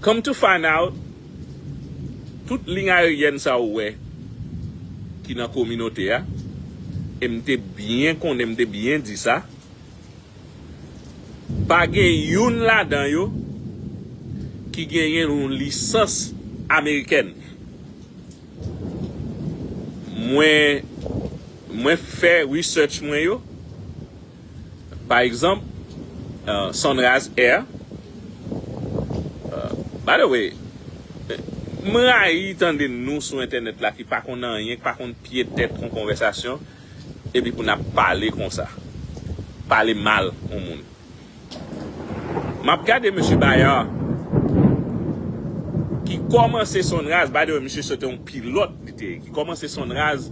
Come to find out, tout ligne aérienne sa ou wè ki nan kominote a, e m te byen konnen, m te byen di sa, pa gen youn ladan yo ki genyen yon lisans amerikèn. Mwen, mwen fè research mwen yo. Pa egzanp, Sunrise Air, By the way, m rayi tande nou sou entènèt la ki pa konn anyen, ki pa konn pye tèt yon konvèsasyon, epi pou n ap pale konsa. Pale mal yon moun. M ap gade mesye Bayard ki kòmanse Sunrise, by the way, misye se te yon pilòt li te ye, ki kòmanse Sunrise,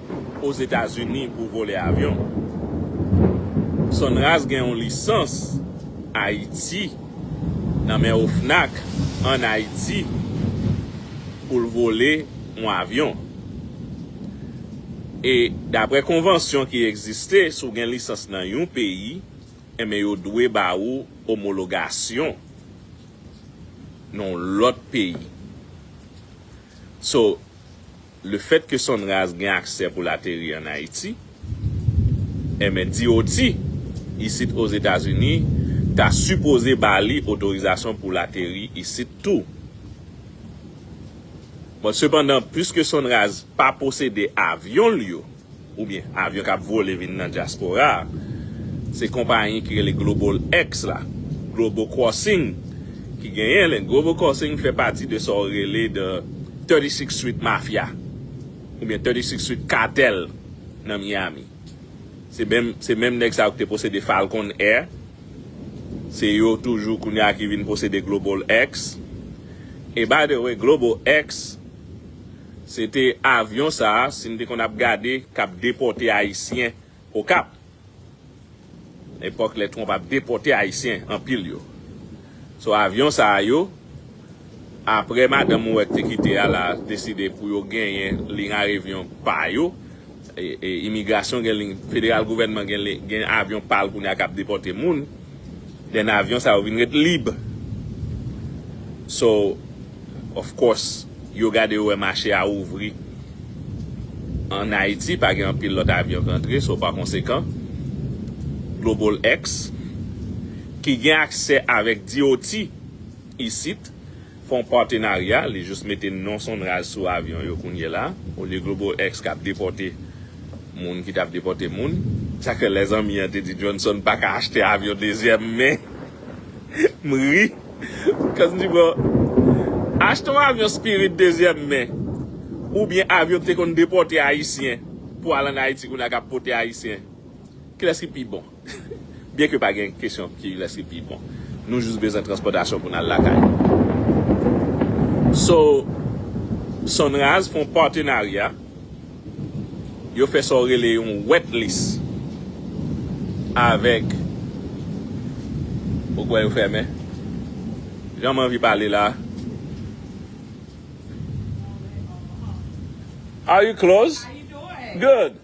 Ozetazini pou vole avyon. Sonras gen yon lisans Ayiti nan men OFNAC an Ayiti pou l vole yon avyon. E dapre konvansyon ki egziste si w gen lisans nan yon peyi enben yo dwe ba ou omologasyon nan yon lòt peyi. So Lefèt ke Sonraz gen aksè pou l ateri an Ayiti, enben DOT isit Ozetazini ta sipoze ba li otorizasyon pou l ateri isit tou. Bon, sepandan, puiske Sonraz pa posede avyon l yo, oubyen avyon kap vole vin nan dyaspora a, se konpayi ki rele Global X la, Global Crossing, ki genyen li, Global Crossing fè pati de sa ou rele the 36 Street Mafia, oubyen 36 Street Cartel nan Miami. Se menm, se menm nèg sa yo ki te posede Falcon Air, se yo toujou kounye a ki vin posede Global X, e by the way Global X Se te avyon sa si m te konn ap gade k ap depòte Ayisyen Okap. Epòk lè Trump ap depòte Ayisyen anpil yo. So avyon sa yo apre madanm Mouret te kite a la deside pou yo genyen liy arevyon pa yo Imigrasyon gen li, federal gouvènman gen li, gen avyon pa l kounye a k ap depòte moun, then avyon sa yo vin ret lib. So, of course, yo gade yo wè mache a ouvri an Ayiti, pa gen anpil lòt avyon k antre, so pa konsekan, GlobalX, ki gen aksè avèk DOT isit, Fon patenarya, li jis mete non Sonraj sou avyon yo kounyela, olye Globoex kap depòte moun ki tap depòte moun. Sak fè lè zanmi an te di Johnson paka achte avyon dezyèm men m ri cuz m di bro achte yon avyon Spirit dezyèm men oubyen avyon ki te konn depòte ayisyen pou al an Ayiti kounye a kap pote ayisyen kilès ki pi bon? Byen ke pa gen kesyon ki lès ki pi bon. Nou jis bezwen transpòtasyon pou n al lakay. So, Sonraz fè yon patenarya, yo fè sa w rele yon wet lis avèk, ou kwè yo fèmen? Jan m anvi pale la a. Are you close? Good!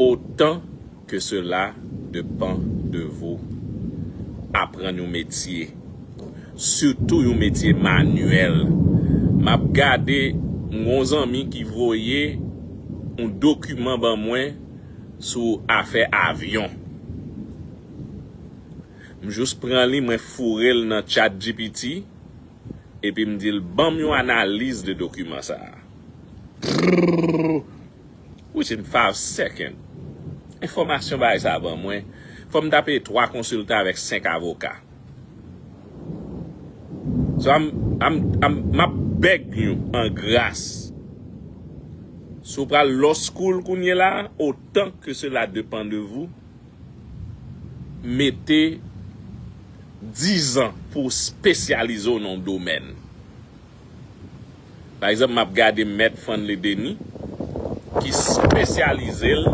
Otan ke sela depan de vou, aprann yon metye, sitou yon metye manyèl. M ap gade, m gen yon zanmi ki voye yon dokiman ban mwen sou afè avyon. M jis pran li, mwen foure l nan Chat GPT, epi m di l, ban m yon analiz de dokiman sa a. Prrrrrr within five second enfòmasyon bagay sa ban mwen fò m ta peye 3 konsilta avèk 5 avoka so am am am map beg you an gras si w pral law school kounye la otan ke sela depan de vou mete 10 an pou w spesyalize w nan yon domèn Pa egzanp m ap gade mèt Franley Denis ki spesyalize l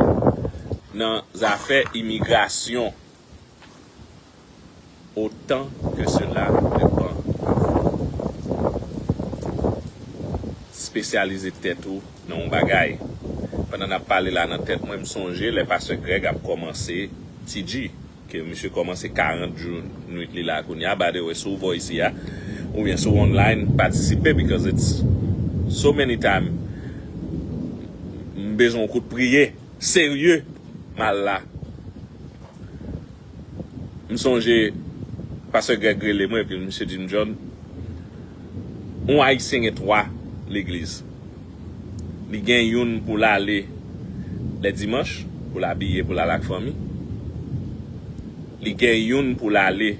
nan zafè imigrasyon otan ke sela le van a vent. Spesyalize tèt ou nan yon bagay. Pandan n ap pale la nan tèt mwen m sonje lè pastè Greg ap kòmanse TG. Ke misye komanse 40 jou nwit li la kounya by the way si w bò isi a oubyen si w online patisipe because it's so many time m bezwen w kout priye serye m al la m sonje pastè Greg rele mwen epi misye di m John yon ayisyen gen 3 legliz. li gen youn pou l ale lè dimanch pou l abiye pou l al ak fanmi li gen youn pou l ale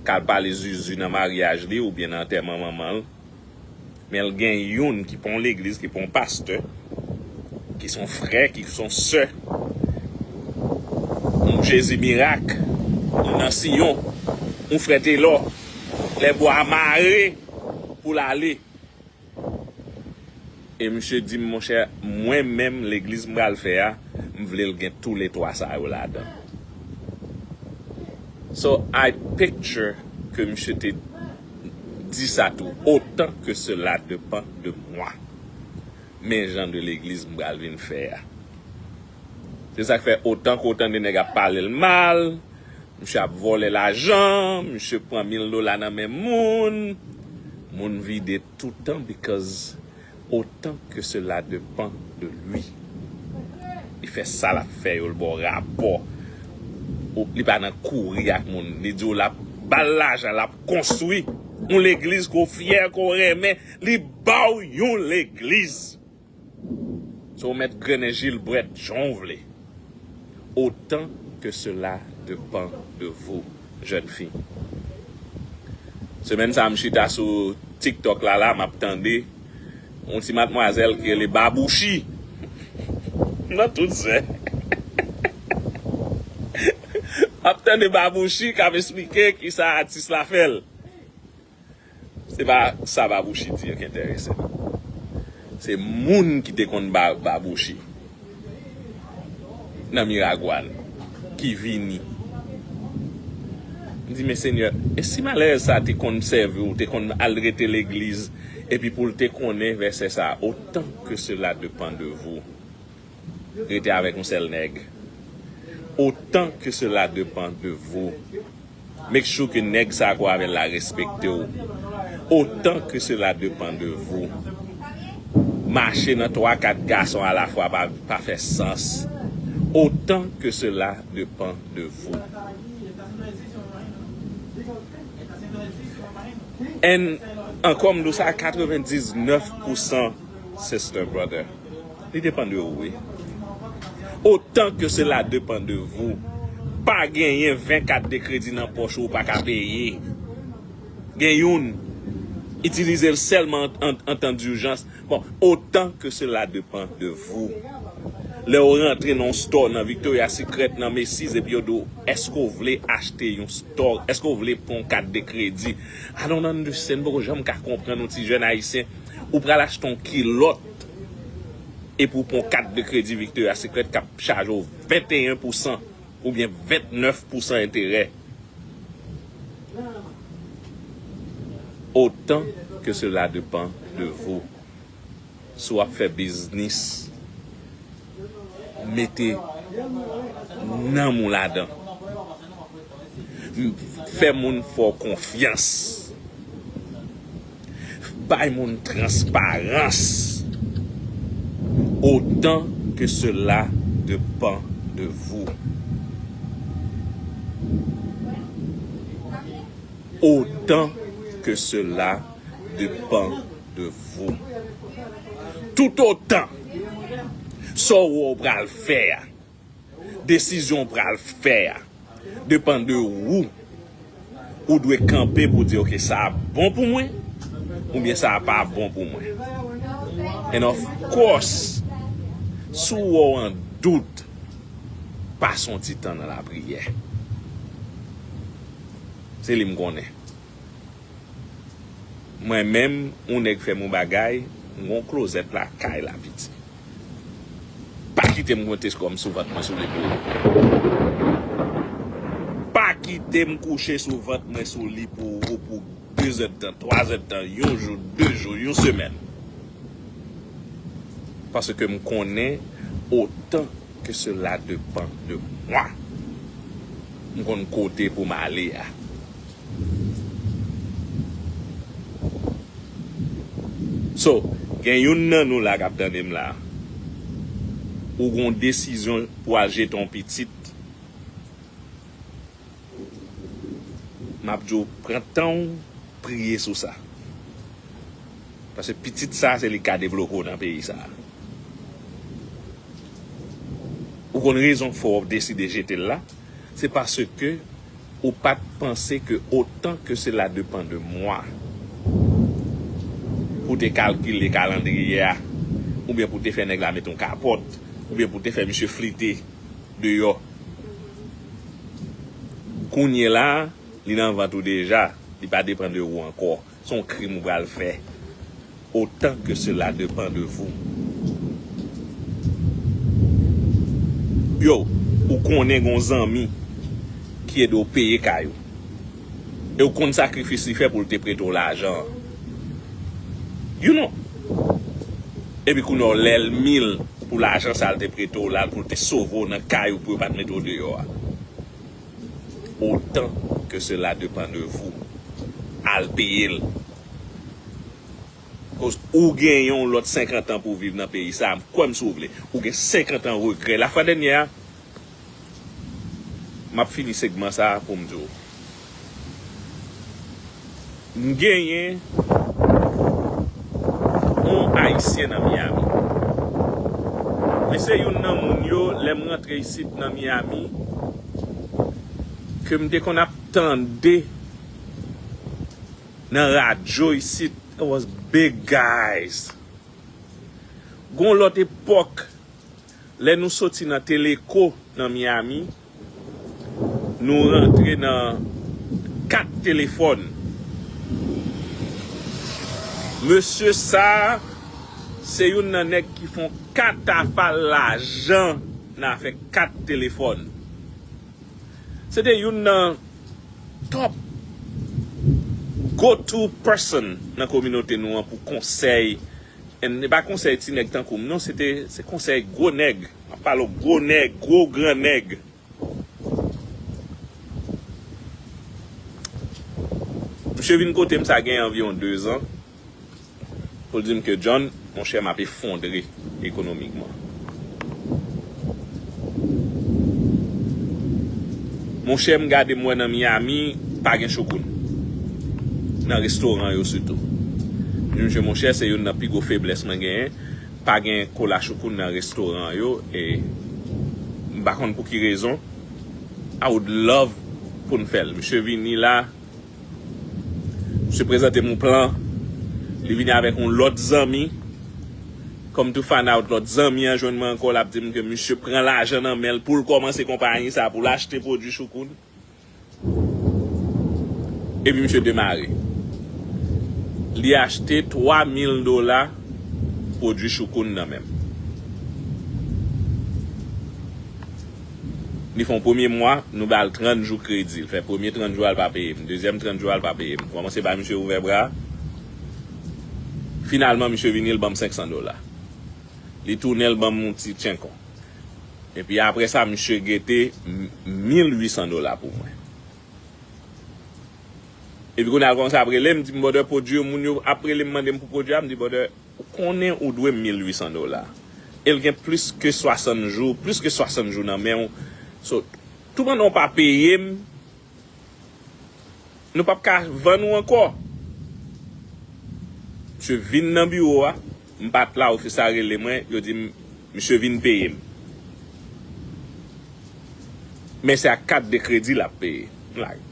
k al pale zuzu nan maryaj li oubyen nan antèman manman l men l gen youn ki pa yon legliz ki pa yon pastè ki son frè ki son sè yon jezi mirak yon nan siyon yon frè telò lè bwa mare pou l ale E misye di m monchè mwen menm legliz m pral fè a m vle l gen tou le 3 sa yo ladan. So I picture ke misye te di sa tou otan ke sela depan de mwa. Men jan de legliz m pral vin fè a. Se sak fè otan ke w tande nèg ap pale l mal, misye ap vòlè lajan, misye pran mil dola nan men moun, moun vide toutan because otan ke sela depan de lui. Li fè sa l ap fè yo, l ba w rapò, li pa nan kouri ak moun, li di w l ap ba l lajan l ap konstwi yon legliz ke w fyè, ke w renmen, li ba w yon legliz. Ou mèt grennen jilbrèt jan w vle otan ke sela depan de vou jèn fi. Semèn sa m chita sou tiktok la la m ap tande yon ti matmwazèl ki rele Babouchi nan tout zè. M ap tande Babouchi k ap esplike kisa atis la fè l. Se pa sa Babouchi di an ki enterese m. Se moun ki te konn bay Babouchi nan Miragwàn ki vini. M di, men Senyè, e si malere sa a te konn sèvi w, te konn al rete legliz, epi pou l te konnen vèsè sa a, Autant que cela depend de vous. rete avek yon sel neg otan ke sela depan de vou make sure ke neg sa ke w avel la respekte w otan ke sela depan de vou mache nan 3 4 gason a la fwa pa fe sans otan ke sela depan de vou and anko m do sa 99 pousan sister brother. Li depan de ou wi. Otan ke sela depan de vou. Pa genyen 20 kat de kredi nan pòch ou ou pa ka peye. Gen youn. Itilize l sèlman an tan dijans. Bon, otan ke sela depan de vou. Lè ou rantre nan yon store nan Victoria Secret, nan Macy's epi yo di w, èske ou vle achte yon store, èske ou vle pran yon kat de kredi? I don't understand, m poko janm ka konprann yon ti jèn ayisyen. Ou pral achte yon kilòt. Epi ou pran yon kat de kredi Victoria Secret k ap chaje w 21 pousan oubyen 29 pousan enterè. Otan ke sela depan de vou. Si w ap fè biznis mete nanm ou ladan. Fè moun fè w konfyans. Bay moun transparans otan ke sela depan de vou. Otan ke sela depan. de vous. Tout otan sa w wè w pral fè a, desizyon w pral fè a depan de ou, ou dwe kanpe pou di ok sa a bon pou mwen oubyen sa a pa bon pou mwen. And of course, si w wè w an dout, pase yon ti tan nan lapriyè. Se li m konnen. Mwen menm ou nèg fèm yon bagay m gon klozèt lakay la piti pa kitem konte kòm sou vant mwen sou li pou ou pa kitem kouche sou vant mwen sou li pou ou pou 2 zèdtan 3 zèdtan yon jou 2 jou yon semèn paske m konnen otan ke sela depan de mwa m konn kote poum ale a. So, gen youn nan nou la kap tande m la, ou gen yon desizyon pou al jete yon pitit, map di w pran tan w priye sou sa. Paske pitit sa se li ki ka devlope w nan peyi sa. Ou konn rezon k fè w deside jete l la, se paske Ou pat panse ke otan ke sela depan de mwa pou te kalkile kalandriye a oubyen pou te fè nèg la mete yon kapòt oubyen pou te fè misye flite deyò kounyela li nan vant ou deja li pa depan de ou ankò. Son krim ou pral fè otan ke sela depan de vou. Yow ou konnen gon zanmi ki ede w peye kay ou e ou konn sakrifis li fè pou l te prete w lajan an you know epi kounye a w lèlmi l pou lajan sa l te prete w la pou l te sove w nan kay ou pou yo pat mete w deyò a. otan ke sela depan de vou al peyel koz ou gen yon lòt 50 an pou viv nan peyi sa kwèm si w vle ou gen 50 an regrè lafwa dènyè a map fini segman sa poum di w. M genyen on ayisyen nan Miami. Li se youn nan moun yo lè m rantre isit nan Miami ke m te konn ap tande nan radyo isit. It was big guys. Gon lòt epòk lè nou soti nan Teleco nan Miami. Nou rantre nan kat telefòn. Mesye sa a se youn nan nèg ki fon katafal lajan nan afè kat telefòn. Se te youn nan top go to person nan kominote nou an pou konsèy, e pa konsèy ti nèg tankou m non, se konsèy gwo nèg. Map pale w gwo nèg, gwo gran nèg. Misye vin kote m sa gen anviwon 2 zan pou l di m ke John, monchè map efondre ekonomikman. Monchè m gade m wè nan Miami pa gen chokoun. Nan restoran yo sitou. M di misye monchè se youn nan pi gwo feblès mwen genyen. Pa gen kola choukoun nan restoran yo e m pa konn pouki rezon. I would love pou n fè l. Misye vini la, misye prezante m yon plan, li vini avèk yon lòt zanmi, come to find out lòt zanmi an jwenn mwen ankò l ap di m ke misye pran lajan nan men l pou l kòmanse konpayi sa pou l achte pwodui choukoun. Epi misye demare. Li achte 3 mil dola pwodui choukoun nan menm. Li fè yon premye mwa, nou ba l 30 jou kredi. Li fè premye 30 jou a, li pa peye m. Dezyèm 30 jou a, li pa peye m. M kòmanse bay misye ouvè bra. Finalman, misye vini, li ban m 500 dola. Li tounen, li ban m yon ti tchenkon. Epi apre sa misye gete 1800 dola pou mwen. Epi kounye a kòmanse ap rele m di m brother pwodui yo moun yo ap rele m mande m pou pwodui a m di brother ou konnen ou dwe m 1800 dola e l gen plis ke 60 jou plis ke 60 jou nan men w so tou pandan w pa peye m Nou pap ka vann ou ankò. Misye vin nan biwo a, m pat la ofis la rele mwen, yo di m misye vin peye m. Men se ak kat de kredi lap peye. M like.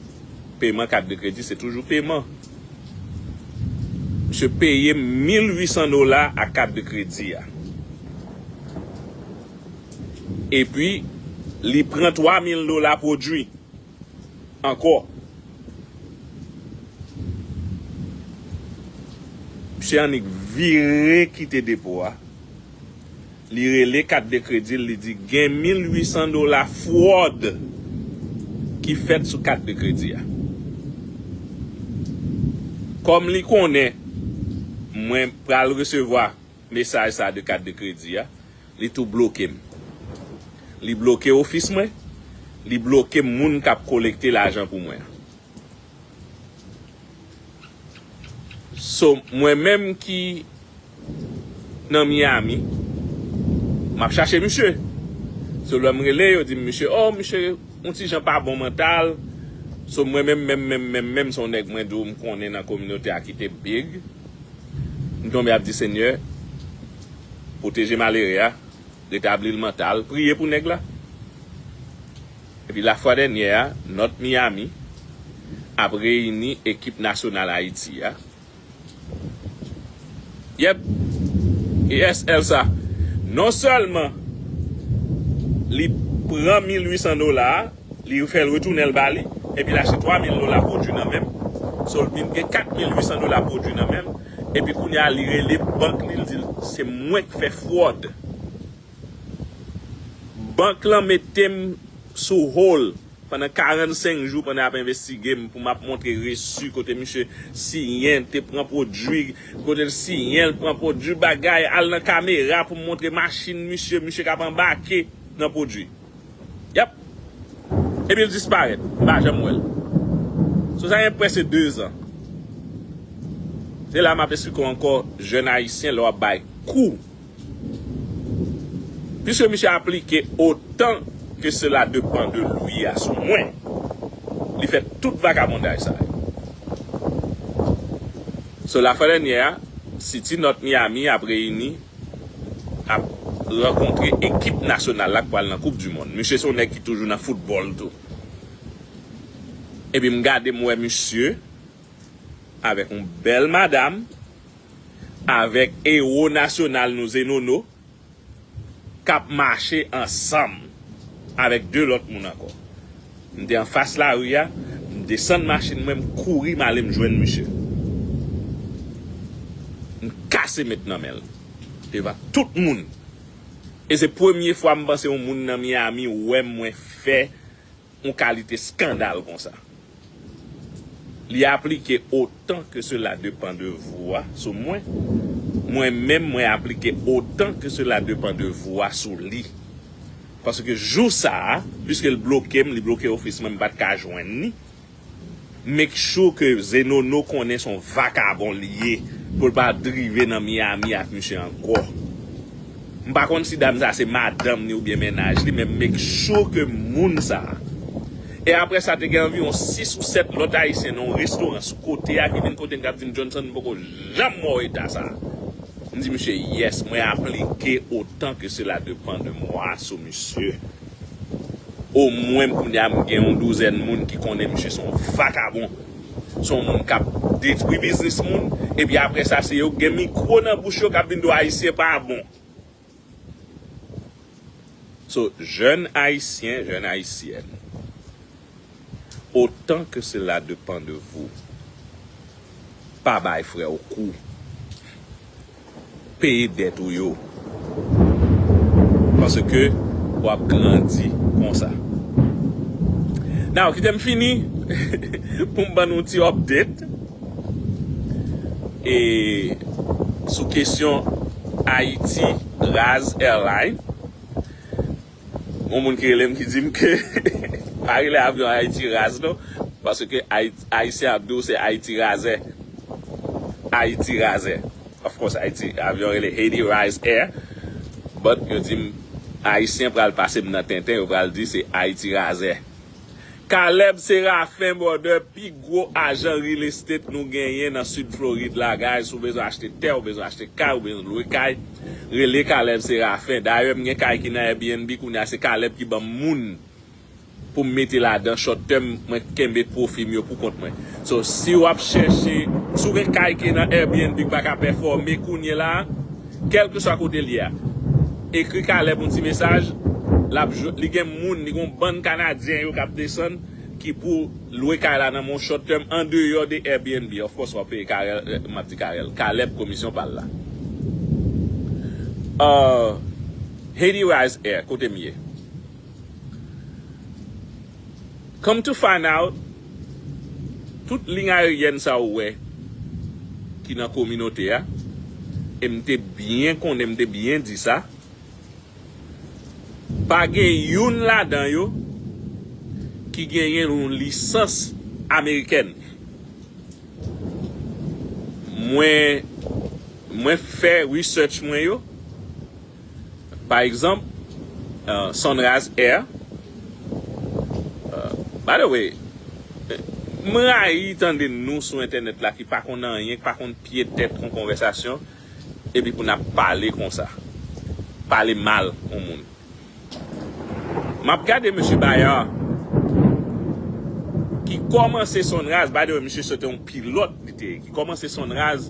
Peman kat de kredi se toujou peman. Misye peye m 1800 dola ak kat de kredi a. Epi li pran 3 mil dola pwodwi ankò. Msye annik vire kite depo a. Li rele kat de kredi l, li di gen 1800 dola fwòd ki fèt sou kat de kredi a. Kòm li konnen mwen pral resevwa Mesaj sa de kat de kredi a, li tou bloke m. Li bloke ofis mwen, li bloke moun kap kolekte lajan pou mwen an. So mwen menm ki nan Miami, map chache misye. So lèm rele yo dim misye oh misye yon ti jan pa bon mantal. So mwen menm menm menm menm menm son nèg mwen di w m konnen nan kominote a kite bgy. M tonbe ap di senyè pwoteje malere a retabli l mantal priye pou nèg la epi la fwa dènyè a nòt Miami ap reyini ekip nasyonal Ayiti a yep yes Elsa non sèlman li pran 1800 dola a. Li fè l retounen l ba li, epi l achte 3 mil dola pwodui nan men m. So l vin gen 4 mil 800 dola pwodui nan men l. Epi kounye a li rele bank li, li di l se mwen k fè fwòd. Bank lan mete m sou hold pandan 45 jou pandan y ap envestige m pou m ap montre resu kote misye siyen te pran pwodui, kote l siyen l pran pwodui bagay, al nan kamera pou m montre machin misye, misye k ap anbake nan pwodui. Yap! Epi l disparèt. M pa janm wè l. Sou sa gen prèske 2 zan. Se la m ap esplike w ankò jèn ayisyen lè w ap bay kou. Piske misye aplike otan ke sela depan de lui a sou mwen, li fè tout vagabondaj sa yo. So la fwa dènyè a, City North Miami ap reyini. ap rankontre ekip nasyonal la k pral nan koup di mond. Misye se yon nèg ki toujou nan foutbòl tou. Epi m gade m wè misye avèk yon bèl madam, avèk ewo nasyonal nou se Nono k ap mache ansanm avèk 2 lòt moun ankò. M te anfas lari a, m desann machin mwen m kouri m ale m jwenn misye. M kase met nan men l devan tout moun e se premye fwa m panse yon moun nan Miami wè mwen fè yon kalite skandal konsa. Li aplike o. tan ke sela depan de vou a sou mwen, mwen menm mwen aplike otan ke sela depan de vou a sou li. Paske jou sa a, piske l bloke m, li bloke ofis mwen, m pa t ka jwenn li, make sure ke Zenono konnen son vakabon li ye pou l pa drive nan Miami ak misye ankò. M pa konn si dam sa se madanm ni oubyen mennaj li men m make sure ke moun sa. E aprè sa te gen anviwon 6 ou 7 lòt ayisyen nan yon restoran sou kote a ki vin kote m kap di m Johnson m poko janm wè w eta sa. M di misye yes mwen aplike otan ke sela depan de mwa sou misye. Omwen kounya m gen yon douzèn moun ki konnen misye son vakabon. Se yon moun kap detwi biznis moun epi aprè sa se yo ki gen mikro nan bouch yo kap vin di w ayisyen pa bon. So jèn ayisyen, jèn ayisyèn otan ke sela depan de vou pa bay frè w kou. peye dèt ou yo paske wap grandi konsa now kitem fini poum ban nou ti update e sou kesyon Haiti Raz Airline Gon moun ki relem ki dim ke pa rele avyon Haiti raz non paske Haitien ap diw se Haiti razè Haiti razè of course Haiti avyon rele Haiti rise air but yo dim Haitien pral pasem nan tenten yo pral di se Haiti razè. Caleb Séraphin brother pi gwo ajan real estate nou genyen nan sud Floride la guys ou bezwen achte tè ou bezwen achte kay ou bezwen lwe kay rele Caleb Séraphin dayè m gen kay ki nan Airbnb kounya se Caleb ki banm moun poum mete ladan short term mwen kenbe pwofi m yo pou kont mwen so si wap chèche si w gen kay ki nan Airbnb ki paka pèfòme kounyela. Kèlkeswa kote l ye a, ekri Caleb yon ti mesaj, l ap jwenn, li gen moun, li gen yon bann Kanadyen yo k ap desann ki pou lwe kay la nan men yon short term andeyò de Airbnb, of course w ap peye Carel, m ap di Carel, Caleb komisyon pa l la. Ahh Haiti Rise Air kote m ye? Come to find out, tout ligne aérienne sa ou wè ki nan kominote a, e m te byen konnen, m te byen di sa, pa gen youn ladan yo ki genyen yon lisans amerikèn. Mwen, mwen fè research mwen yo, Pa egzanp, Sunrise Air, By the way, m rayi tande nou sou entènèt la ki pa konn anyen, ki pa konn pye tèt yon konvèsasyon, epi pou n ap pale konsa. Pale mal yon moun. M ap gade mesye Bayard ki kòmanse Sunrise, by the way, misye se te yon pilòt li te ye, ki kòmanse Sunrise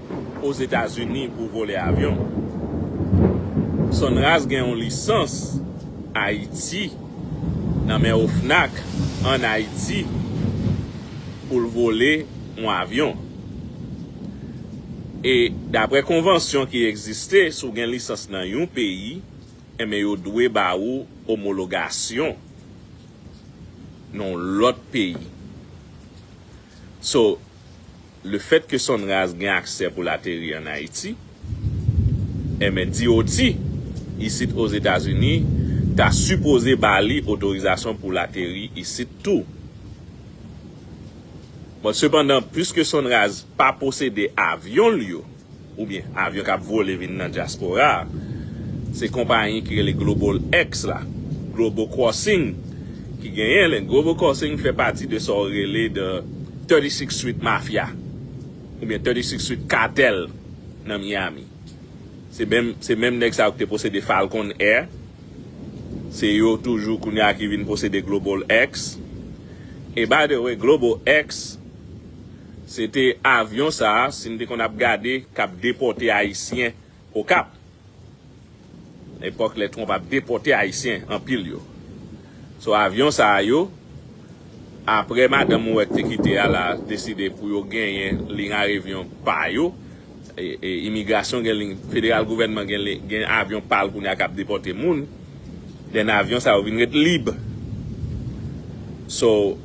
Ozetazini pou vole avyon. Sonras gen yon lisans Ayiti nan men OFNAC an Ayiti pou l vole yon avyon. E dapre konvansyon ki egziste si w gen lisans nan yon peyi enben yo dwe ba ou omologasyon nan yon lòt peyi. So. Lefèt ke Sonraz gen aksè pou l ateri an Ayiti, enben DOT isit Ozetazini ta sipoze ba li otorizasyon pou l ateri isit tou. Bon, sepandan, puiske Sonraz pa posede avyon l yo, oubyen avyon kap vole vin nan dyaspora a, se konpayi ki rele Global X la, Global Crossing ki genyen li, Global Crossing fè pati de sa ou rele the 36 Street Mafia oubyen 36 Street Cartel nan Miami. Se menm se menm nèg sa yo ki te posede Falcon Air, se yo toujou kounye a ki vin posede Global X, e by the way Global X Se te avyon sa si m te konn ap gade k ap depòte Ayisyen Okap. Epòk lè Trump ap depòte Ayisyen anpil yo. So avyon sa yo apre madanm mwen te kite a la deside pou yo genyen liy arevyon pa yo. Imigrasyon gen li, federal gouvènman gen li, gen avyon pa l kounye a k ap depòte moun, den avyon sa yo vin ret lib. So,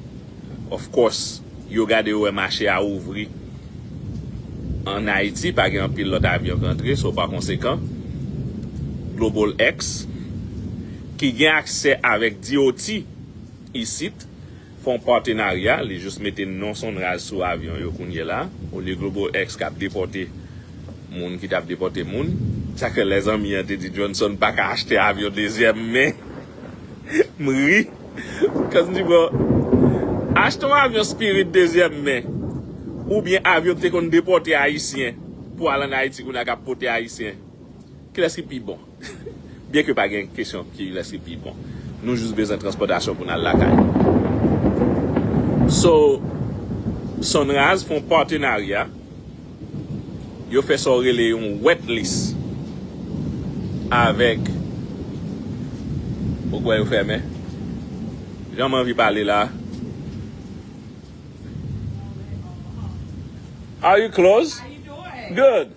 of course, yo gade yo wè mache a ouvri an Ayiti, pa gen anpil lòt avyon k antre, so pa konsekan, GlobalX, ki gen aksè avèk DOT isit, fon patenarya li jus mete non sonraj sou avyon yo kounyela olye globo ex kap depòte moun ki tap depòte moun sa kwe lè zanmi an te di Johnson paka achte avyon dezyèm men m ri bkòz m di bro achte yon avyon spirit dezyèm men oubyen avyon ki te konn depòte ayisyen pou al an ayiti kounya kap pote ayisyen kilès ki pi bon. Byen ke pa gen kesyon ki lès ki pi bon. Nou jis bezwen transpòtasyon pou n al lakay. So, Sunrise fè yon patenarya, yo fè sa w rele yon wet list avèk, ou kwè yo fèmen? Jan m anvi pale la a. Are you closed? Good!